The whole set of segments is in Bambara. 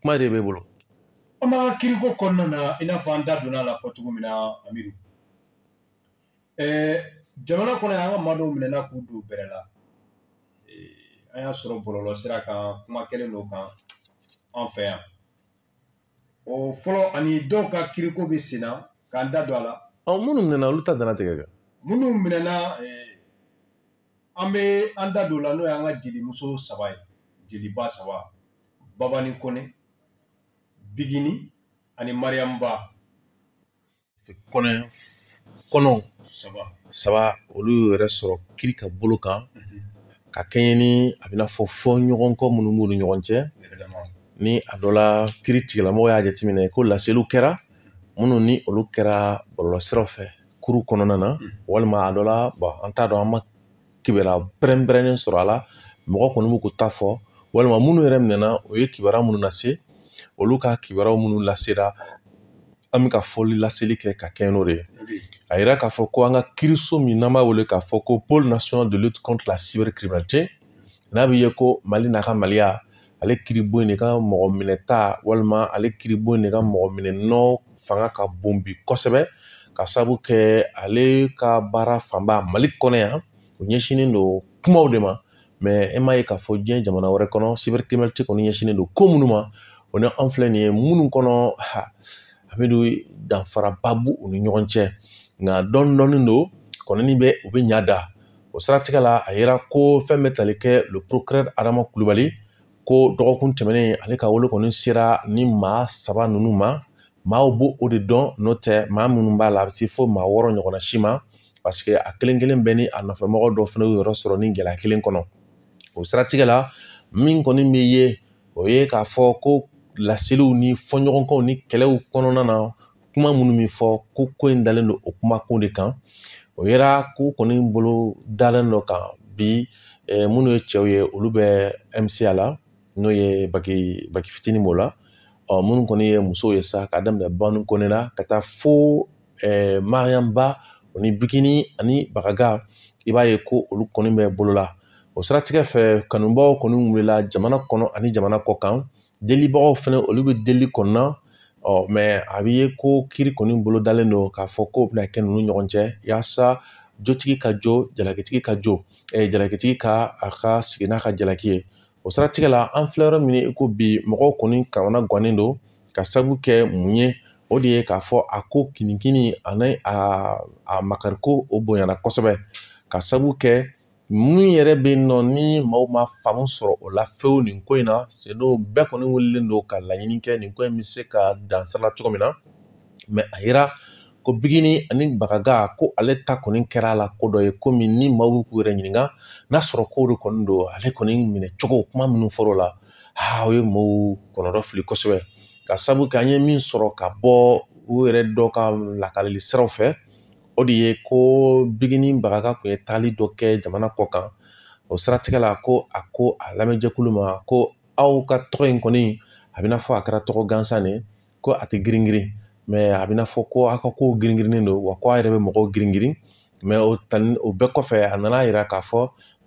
kuma de b'e bolo an b'an ka kiriko kɔnɔna na i n'a fɔ an da donna a la fɔ cogo min na amidu jamana kɔnɔ yan an ka maa dɔw minɛna k'u don bɛrɛ la an y'a sɔrɔ bɔlɔlɔsira kan kuma kɛlen dɔ kan an fɛ yan o fɔlɔ ani dɔw ka kiriko bɛ sen na k'an da don a la minnu minɛna olu ta dantigɛ kɛ minnu minɛna an bɛ an da don o la n'o y'an ka jelimuso saba ye jeliba saba babani kɔnɛ bigini ani mariyamu ba kɔnɔ saba olu yɛrɛ sɔrɔ kiri ka bolo kan mhm. ka kɛɲɛ ni a bɛna fɔ fɔɲɔgɔnkɔ minnu b'u ni ɲɔgɔn cɛ ni a dɔ la kiritigɛlamɔgɔ y'a jateminɛ ko laseliw kɛra minnu ni olu kɛra bɔlɔlɔsiraw fɛ kuru kɔnɔna na walima a dɔ la an t'a dɔn an ma kibaruya pɛrɛnpɛrɛnnen sɔrɔ a la mɔgɔ kɔni b'u ko ta fɔ walima minnu yɛrɛ minɛna u ye kibaruya minnu lase olu ka kibaruya minnu lasera an bɛ ka fɔli laseli kɛ ka kɛɲɛ n'o de ye a yira k'a fɔ ko an ka kiriso min n'an b'a wele k'a fɔ ko pôle national de lutte contre la cybercriminalité n'a bɛ ye ko mali n'a ka maliya ale kiribon in de ka mɔgɔ minɛta walima ale kiribon in de ka mɔgɔ minɛnɔ fanga ka bon bi kosɛbɛ ka sabu kɛ ale ka baara fanba mali kɔnɔ yan o ɲɛsinnen don kumaw de ma mais e m'a ye k'a fɔ diɲɛ jamana wɛrɛ kɔnɔ cybercriminalité kɔni ɲɛsinnen don ko minnu ma o ni an filɛ nin ye minnu kɔnɔ a bɛ don danfaraba b'u ni ɲɔgɔn cɛ nka dɔɔnin dɔɔnin don kɔnɔni bɛ u bɛ ɲa da o siratigɛ la a yira ko fɛn bɛ tali kɛ le procureur adama kulubali ko dɔgɔkun tɛmɛnen ale ka wele kɔni sera ni maa saba ninnu ma maaw b'o o de dɔn n'o tɛ maa minnu b'a la a bɛ se fo maa wɔɔrɔ ɲɔgɔnna si ma parce que a kelen kelen bɛɛ ni a nɔfɛmɔgɔ dɔ fana y'u yɛrɛ sɔrɔ nin gɛlɛya kelen kɔnɔ o siratigɛ la min kɔni bɛ ye o ye k'a fɔ ko laseliw ni fɔɲɔgɔnkɔw ni kɛlɛw kɔnɔna na kuma minnu bɛ fɔ ko ko in dalen don o kumakun de kan o yera ko kɔni bolo dalen dɔ kan bi minnu ye cɛw ye olu bɛ MCA la n'o ye baki fitinin b'o la ɔ minnu kɔni ye musow ye sa ka daminɛ bani kɔnɛ la ka taa fo mariyamu ba o ni bigini ani bagaga i b'a ye ko olu kɔni bɛ bɔle la o siratigɛ fɛ kanubaaw kɔni wulila jamana kɔnɔ ani jamana kɔ kan Delibagaw fɛnɛ olu bɛ deli kɔnɔna ɔ mais a bɛ ye ko kiri kɔni bolo dalen don k'a fɔ k'o bɛna kɛ ninnu ɲɔgɔn cɛ yaasa jotigi ka jo jalakitigi ka jo jalakitigi ka a ka sigi n'a ka jalaki ye o siratigɛ la an filɛ yɔrɔ min i ko bi mɔgɔw kɔni kamanagannen don ka sabu kɛ mun ye o de ye k'a fɔ a ko kinikini ani a makariko o bonyana kosɛbɛ ka sabu kɛ min yɛrɛ bɛ yen nɔ ni maaw ma faamu sɔrɔ o la fewu nin ko in na seno bɛɛ kɔni wulilen don ka laɲini kɛ nin ko in bɛ se ka dan sira la cogo min na mɛ a yira ko bigini ani bagaga ko ale ta kɔni kɛra a la ko dɔ ye komi ni maaw bɛ k'u yɛrɛ ɲininka n'a sɔrɔ k'o de kɔni don ale kɔni minɛ cogo kuma minnu fɔr'o la aa o ye maaw kɔnɔdɔ fili kosɛbɛ ka sabu kɛ an ye min sɔrɔ ka bɔ u yɛrɛ dɔ ka lakalili siraw fɛ o de ye ko bigini bagaga kun ye taali dɔ kɛ jamana kɔ kan o siratigɛ la ko a ko a lamɛnjɛkulu ma ko aw ka tɔgɔ in kɔni a bɛna fɔ a kɛra tɔgɔ gansan de ko a tɛ girin girin mɛ a bɛna fɔ ko aw ka kow girin girinnen don wa ko a yɛrɛ bɛ mɔgɔw girin girin mɛ o bɛɛ kɔfɛ a nana a yira k'a fɔ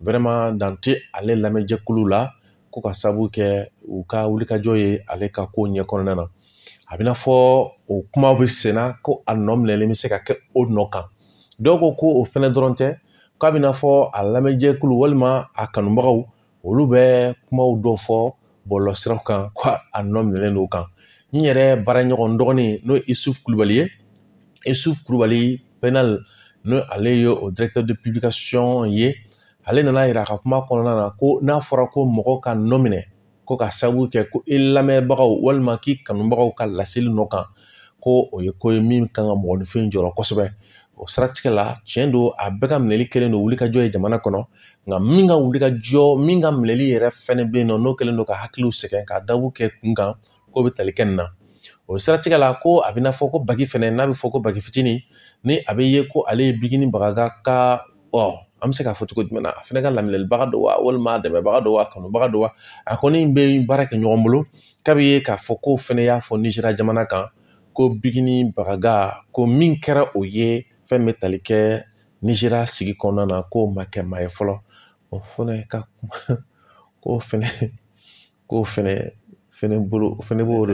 wɛrɛma dan tɛ ale lamɛnjɛkulu la ko ka sabu kɛ u ka wulikajɔ ye ale ka ko ɲɛ kɔnɔna na a bɛna fɔ o kuma bɛ senna ko a nɔ minɛlen bɛ se ka kɛ o nɔ kan dɔnki ko o fɛnɛ dɔrɔn tɛ k'a bɛna fɔ a lamɛnjɛkulu walima a kanubagaw olu bɛ kumaw dɔ fɔ bɔlɔlɔsiraw kan ko a nɔ minɛlen don o kan n yɛrɛ baaraɲɔgɔn dɔgɔnin n'o ye isufu kulubali ye isufu kulubali pɛnali n'o ale ye o directeur de publication ye ale nana a yira a ka kuma kɔnɔna na ko n'a fɔra ko mɔgɔ ka nɔ minɛ ko ka sabu kɛ ko i lamɛnbagaw walima k'i kanubagaw ka laseli nɔ kan ko o ye ko ye min kan ka mɔgɔninfin jɔrɔ kosɛbɛ o siratigɛ la tiɲɛ don a bɛɛ ka minɛli kɛlen don wulikajɔ ye jamana kɔnɔ nka min ka wulikajɔ min ka minɛli yɛrɛ fɛnɛ bɛ yen nɔ n'o kɛlen don ka hakiliw sɛgɛn ka dabu kɛ kunkan k'o bɛ tali kɛ nin na o siratigɛ la ko a bɛna fɔ ko baki fɛnɛ n'a bɛ fɔ ko baki fitinin ni a bɛ ye ko ale ye bigini bagaga ka ɔ an bɛ se k'a fɔ cogo jumɛn na a fɛnɛ ka lamɛnlibaga don wa walima a dɛmɛbaga don wa a kanubaga don wa a kɔni bɛ baara kɛ ɲɔgɔn bolo k'a bɛ ye k'a fɔ k'o fɛnɛ y'a fɔ nizeriya jamana kan ko bigini bagaga ko min kɛra o ye fɛn bɛ tali kɛ nizeriya sigi kɔnɔna na k'o ma kɛ maa ye fɔlɔ o fɛnɛ ka kuma ko fɛnɛ k'o fɛnɛ fɛnɛ bolo o fɛnɛ b'o de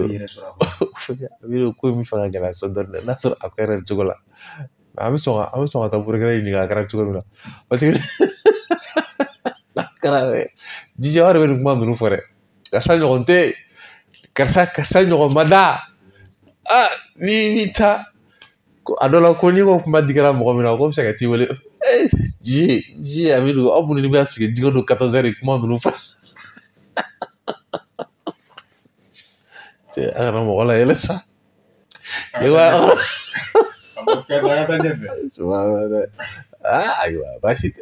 o ko min fanga gɛlɛya sɔrɔ dɔɔnin n'a sɔrɔ a kɛra cogo la an bɛ sɔn ka an bɛ sɔn ka taa burukɛnɛ ɲininka a kɛra cogo min na paseke n'a kɛra dɛ jija wɛrɛ bɛ nin kuma ninnu fɔ dɛ karisa ɲɔgɔn tɛ karisa karisa ɲɔgɔn ma da ni bɛ taa ko a dɔ la ko n'i ko kuma digara mɔgɔ min na k'o bɛ se ka t'i wele ji ji a bɛ don aw minnu bɛ sigi jigin don katɔsɛri kuma ninnu fɔ a kana mɔgɔ layɛlɛ sa ayiwa ayiwa baasi tɛ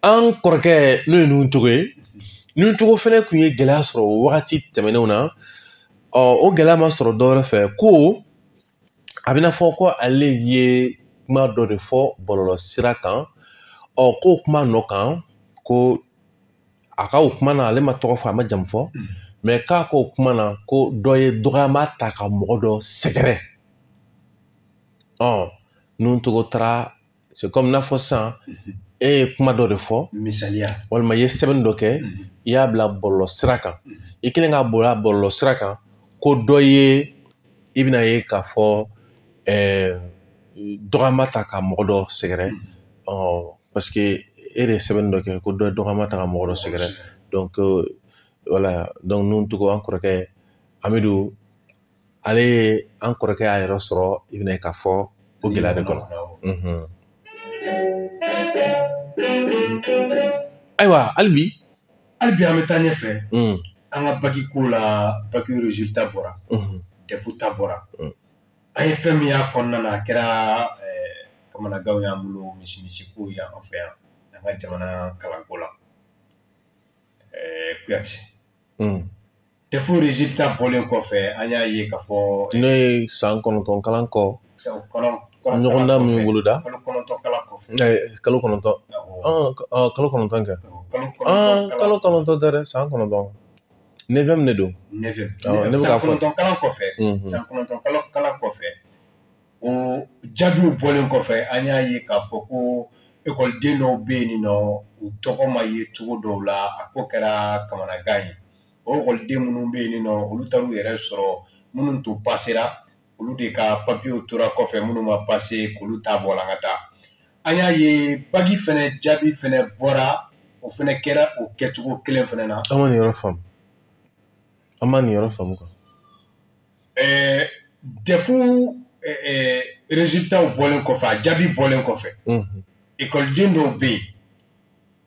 an kɔrɔkɛ n'o ye nun togo ye nun togo fɛnɛ kun ye gɛlɛya sɔrɔ wagati tɛmɛnenw na ɔ o gɛlɛya ma sɔrɔ dɔwɛrɛ fɛ ko a bɛna fɔ ko ale ye kuma dɔ de fɔ bɔlɔlɔ sira kan ɔ ko o kuma nɔ kan ko a ka o kuma na ale ma tɔgɔ fɔ a ma jamu fɔ mm. mɛ k'a ka o kuma na ko dɔ ye dɔgɔyama ta ka mɔgɔ dɔ sɛgɛrɛ ɔ nun togo taara c'est comme n'a fɔ sisan mhm. e ye kuma dɔ de fɔ misaliya walima i ye sɛbɛnni dɔ kɛ mhm. i y'a bila bɔlɔlɔ sira kan mhm. i kɛlen k'a bila bɔlɔlɔ sira kan ko dɔ ye i bɛna ye k'a fɔ ɛɛ dɔgɔyama ta ka mɔgɔ dɔ sɛgɛrɛ ɔ parce que e de ye sɛbɛnni dɔ kɛ ko dɔ ye dɔgɔyama ta ka mɔgɔ dɔ sɛgɛrɛ donc voilà donc nun togo an kɔrɔkɛ amidu ale ye an kɔrɔkɛ y'a yɛrɛ sɔrɔ i bɛna ye k'a fɔ o gɛlɛya de kɔnɔ ayiwa hali bi hali bi an bɛ taa ɲɛfɛ an ka baki ko la baki resultat bɔra dɛfu ta bɔra an ye fɛn min y'a kɔnɔna na a kɛra kamanagan y'an bolo misi misi ko y'an fɛ yan an ka jamana kalanko la kuyate dɛfu resultat bɔlen kɔfɛ an y'a ye k'a fɔ n'o ye san kɔnɔntɔn kalan kɔ ɲɔgɔndan min boloda kalo kɔnɔntɔn kalan kɔfɛ kalo kɔnɔntɔn kalo kɔnɔntɔn kɛ kalo kɔnɔntɔn tɛ dɛ san kɔnɔntɔn neuvième de don ne bɛ k'a fɔ san kɔnɔntɔn kalan kɔfɛ san kɔnɔntɔn kalo kalan kɔfɛ o jaabiw bɔlen kɔfɛ an y'a ye k'a fɔ ko ekɔliden dɔw bɛ yen nɔ u tɔgɔ ma ye cogo dɔw la a ko kɛra kamanagan ye o ekɔliden minnu bɛ yen nɔ olu taar'u yɛrɛ sɔrɔ minnu tun pasera olu de ka papiyew tora kɔfɛ minnu ma pase k'olu ta bɔla ka taa an y'a ye baki fɛnɛ jaabi fɛnɛ bɔra o fɛnɛ kɛra o kɛcogo kelen fɛnɛ na an ma nin yɔrɔ faamu an ma nin yɔrɔ faamu quoi ɛɛ dɛfu ɛɛ rezilitaw bɔlen kɔfɛ a jaabi bɔlen kɔfɛ ekɔliden dɔw bɛ yen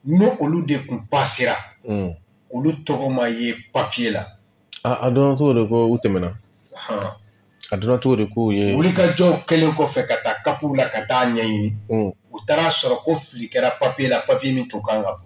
n'o olu de kun pasera mm. olu tɔgɔ ma ye papiye la a dɔnna cogo di ko u tɛmɛna a dɔnna cogo di k'u ye wulikajɔw kɛlen kɔfɛ ka taa kapuw la ka taa ɲɛɲini mm. u taara a sɔrɔ ko fili kɛra papiye la papiye min tun kan ka bɔ